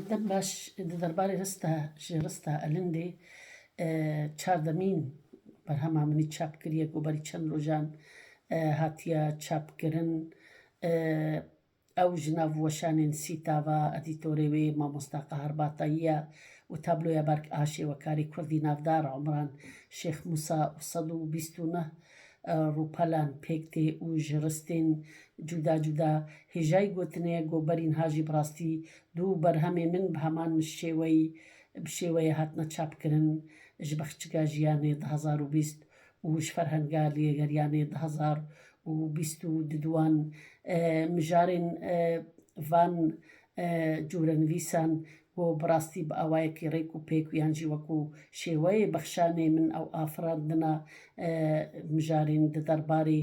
Dem baş di derbarê rista ji rista Elindê çar demîn berhema min î çap kiriye ku berî çend rojan hatiye çapkirin. Ew ji nav weşanên Sîtava, edîtorê wê Mamosta Qahar Batayî ye û tabloya Berk a Şêwekarê Kurdî Navdar Omran Şêx Mûsa û sed û bîst û neh Rûpelan pêk tê û ji ristên cuda cuda hêjayî gotinê ye ku berîn ha jî bi rastî du berhemê min bi heman şêweyî bi şêweyê hatine çapkirin ji Bexçika Jiyanê du hezar û bîst û ji Ferhenga Lêgeriyanê du hezar û bîst û du di wan mijarên van corenivîsan Ku bi rastî bi awayekî rêk û pêk û yan jî wekû şêweyê bexşanê min ew afirandina mijarên di derbarê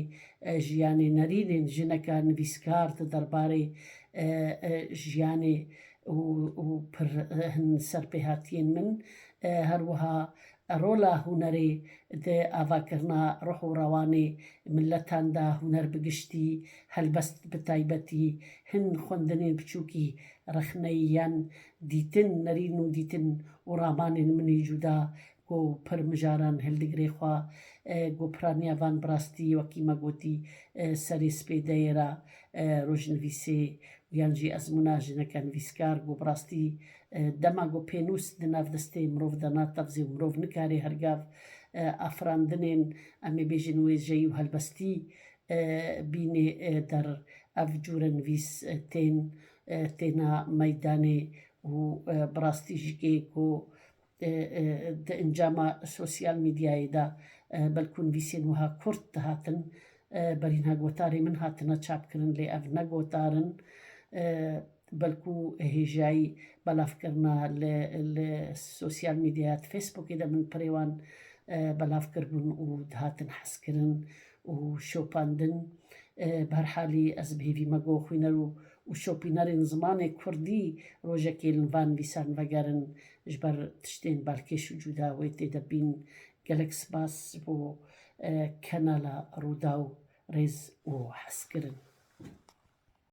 jiyanê nerînên jineka nivîskar di derbarê jiyanê û pir hin serpêhatiyên min her wiha Rola hunerê di avakirina ruh û rewanê miletan de huner bi giştî, helbest bi taybetî, hin xwendinên biçûkî rexneyî yan dîtin, nerîn û dîtin û ramanên min ê cûda ku pir mijaran hildigirê xwe ku piraniya van bi rastî wekî me gotî serê spê de yê ra rojnivîsê û yan jî ezmûna jineke nivîskar ku bi rastî Dema ku pênûs di nav destê mirov de natexzê û mirov nikarê her gav afirandinên em ê bêjin wêjeyî û helbestî bînê der, ev cûre nivîs tên têna meydanê û bi rastî ji kê ku di encama sosyal mîdyayê de belkû nivîsên wiha kurt dihatin Berînha gotarê min hatine çapkirin lê ev ne gotar in belkû hêjayî belavkirina li li sosyal mîdyaya di Facebookê de min pirê wan belav kiribûn û dihatin hezkirin û şopandin. Bi her halî ez bi hêvî me got xwîner û û şopînerên zimanê kurdî rojekê li van vîsan vegerin ji ber tiştên balkêş û cûda wê tê de bîn. Gelek spas ji bo Kanala Rûdaw rêz û hez kirin.